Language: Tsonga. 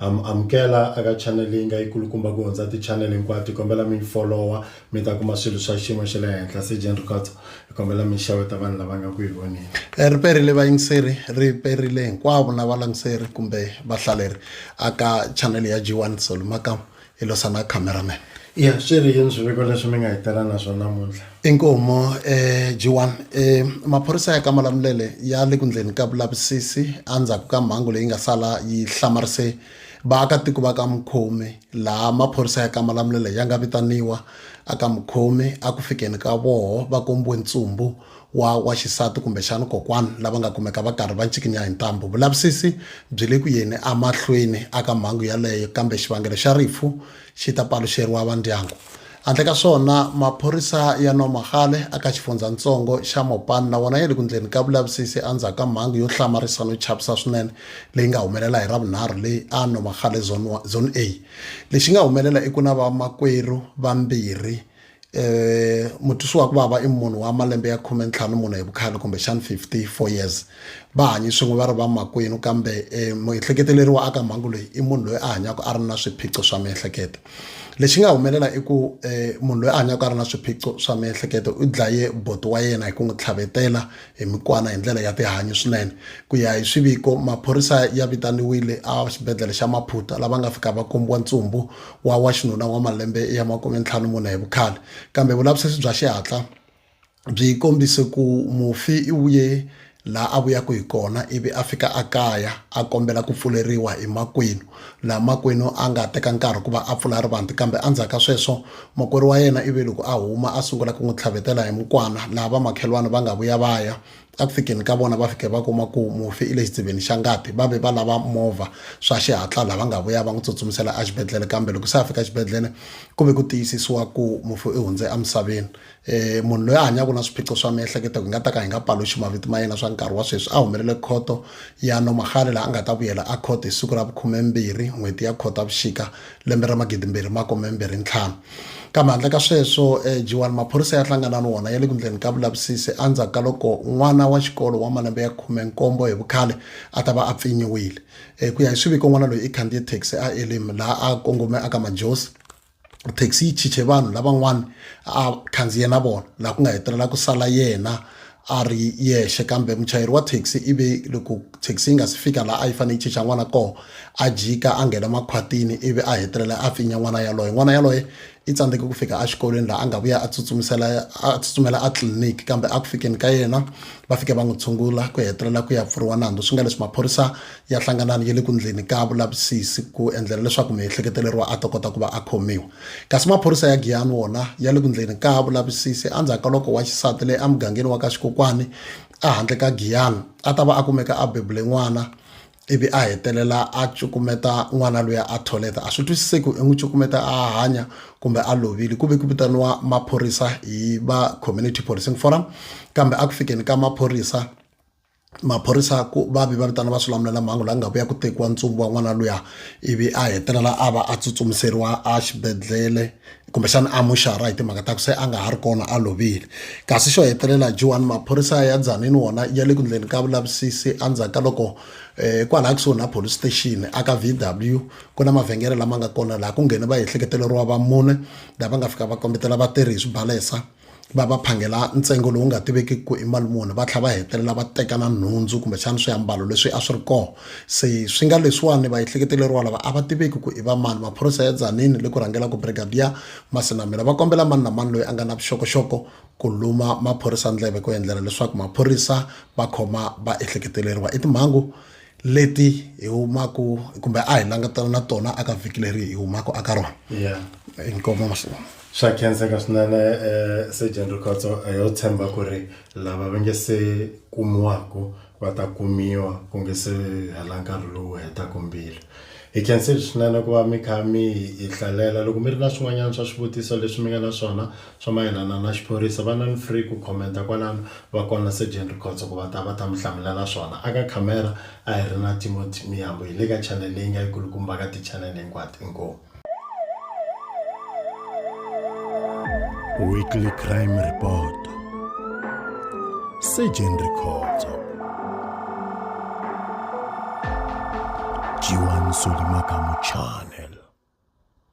Am amukela aka channel leyi nga yi kulukumba ku hundza ti channel hinkwato hi kombela mi yi folowa mi ta kuma swilo swa xiyimo xa le henhla se Jane Rikhotso hi kombela mi xeweta vanhu lava nga ku yi voneni. Ri perile vayingiseri, ri perile hinkwavo na valangiseri kumbe vahlaleri aka channel ya G1 Solo Makamu hi losana cameraman ya swi ri yini swiviko leswi mi nga hi tela na swona namuntlha inkomo um eh, g1 eh, maphorisa ya kamalamulele ya le ku ndleni ka vulavisisi endzhaku ka mhangu leyi nga sala yi hlamarise vaakatiko va ka mukhomi laha maphorisa ya kamalamulele ya nga vitaniwa a ka mukhomi a ku fikeni ka voho va kombiwe ntsumbu wa wa xisati kumbexana kokwana lava nga kumeka va karhi va ncikinya hi ntambu. Vulavisisi byi le ku yeni emahlweni aka mhangu yaleyo kambe xivangelo xa rifu xi ta paluxeriwa vandyangu. Handle ka swona, maphorisa ya Nomagale aka xifundzhantsongo xa Mopani na wona ya le ku ndleni ka vulavisisi endzhaku ka mhangu yo hlamarisa no chavisa swinene leyi nga humelela hi Ravunharhu leyi a Nomagale Zone, Zone A. Lexi nga humelela i ku na vamakwerhu vambirhi um mutwisi wa ku vava i munhu wa malembe ya khume ntlhanu mune hi vukhale kumbexani fifty four years va hanyi swin'we va ri vamakwenu kambe um muehleketeleri wa aka mhangu leyi i munhu loyi a hanyaka a ri na swiphiqo swa miehleketo lexi nga humelela i ku um munhu loyi a hanyaka a ri na swiphiqo swa miehleketo u dlaye boti wa yena hi ku n'wi tlhavetela hi mikwana hi ndlela ya tihanyi swinene ku ya hi swiviko maphorisa ya vitaniwile a xibedhlele xa maphuta lava nga fika va kombiwa ntsumbu wa wa xinuna wa malembe ya makume ntlhanu mune hi vukhale kambe vulavisisi bya xihatla byi kombise ku mufi i vuye laha a vuyaka hi kona ivi a fika a kaya a kombela ku pfuleriwa hi makwenu laha makwenu a nga teka nkarhi ku va a pfula rivanti kambe endzhaku ka sweswo makwerhu wa yena ivi loko a huma a sungula ku n'wi tlhavetela hi mukwana laha vamakhelwani va nga vuya va ya eku fikeni ka vona va fike va kuma ku mufi i le xitsiveni xa ngati va ve va lava movha swa xihatla lava nga vuya va n'wi tsutsumisela exibedhlele kambe loko se a fika exibedhlele ku ve ku tiyisisiwa ku mufi i hundze emisaveni um munhu loyi a hanyaka na swiphiqo swa miehleketo hi nga ta ka hi nga paluxi mavito ma yena swa nkarhi wa sweswi a humelele khoto ya nomahale laha a nga ta vuyela a khoto hi siku ra vukhumembirhi n'hweti ya khotavuxika lembe ra magidi mbirhi makume mbirhi ntlhanu kambe handle ka sweswo eh, jiwani maphorisa ya hlangana ni wona ya le ku ndleni ka vulavisisi endzhaku ka loko n'wana wa xikolo wa malembe ya khume nkombo hi vukhale a ta va a pfinyiwile eh, ku ya hi swiviko n'wana loyi i khandziye taxi a elim laha a kongome aka majosi taxi yi chiche vanhu lavan'wana a khandziye na vona laha ku nga hetelela ku sala yena a ri yexe kambe muchayeri wa thekisi i ve loko thekisi yi nga si fika laha a yi fanele yi chicha n'wana koho a jika a nghena makhwatini ivi a hetelela a pfinya n'wana yaloye n'wana yaloye i tsandzeke ku fika exikolweni laha a nga vuya a tsutsumisela a tsutsumela a tliliniki kambe a ku fikeni ka yena va fike va n'wi tshungula ku hetelela ku ya pfuriwa nandzu swi nga leswi maphorisa ya hlanganani ya le ku ndleni ka vulavisisi ku endlela leswaku miehleketeleriwa a ta kota ku va a khomiwa Kasi maphorisa ya Giyani wona ya le ku ndleni ka vulavisisi andzhaku ka loko wa xisati leyi emugangeni wa ka Xikokwani ehandle ka Giyani a ta va a kumeka a bebule n'wana ivi a hetelela a cukumeta n'wana loyi a tholeta a swi twisiseki i n'wi cukumeta a hanya kumbe a lovile ku ve ku vitaniwa maphorisa hi va community policing forum kambe a ku fikeni ka maphorisa maphorisa ku va vi va vitana va swilamulelamhangu la nga vuya ku tekiwa ntsumbu wa n'wana luya ivi a hetelela a va a tsutsumiseriwa a xibedhlele kumbexana a muxara hi timhaka ta ku se a nga ha ri kona a lovile kasi xo hetelela jiwani maphorisa ya dzanini wona ya le ku ndleni ka vulavisisi endzhaku ka loko um kwalaha kusuhi na police station aka v w ku na mavhengele lama nga kona laha ku nghene va ehleketeleriwa va mune lava nga fika va kombetela vatirhi hi swibalesa va va phangela ntsengo lowu nga tiveki ku i mali muni va tlhela va hetelela va teka na nhundzu kumbexana swiambalo leswi a swi ri kona se swi nga leswiwani va ehleketeleriwa lava a va tiveki ku i va mani maphorisa ya Tzaneen le ku rhangelaka brigadier Masinamela va kombela mani na mani loyi a nga na vuxokoxoko ku luma maphorisa ndleve ku endlela leswaku maphorisa va khoma va ehleketeleriwa i timhangu leti hi humaka kumbe a hi langutana na tona aka vhiki leri hi humaka aka rona ya inkomo masiku swa khenseka swinene eh, sergeant rikhotso eh, yo tshemba ku ri lava va nge se kumiwaku va ta kumiwa ku nge se hela nkarhi lowu hetaku mbilu hi khensile swinene ku va mi kha mi hi hi hlalela loko mi ri na swin'wanyana swa swivutiso leswi mi nga na swona Swa mayelana na xiphorisa, va nan free ku commenta kwalano, va kona Surgeon Rikhotso ku va ta va ta mi hlamulela swona. A ka khamera a hi ri na Timothy Miyambo, hi le ka channel leyi nga yi kulukumba ka ti channel hinkwato. Inkomu. Weekly Crime Report, Surgeon Rikhotso, Djiwa Nsoli Makamu Channel.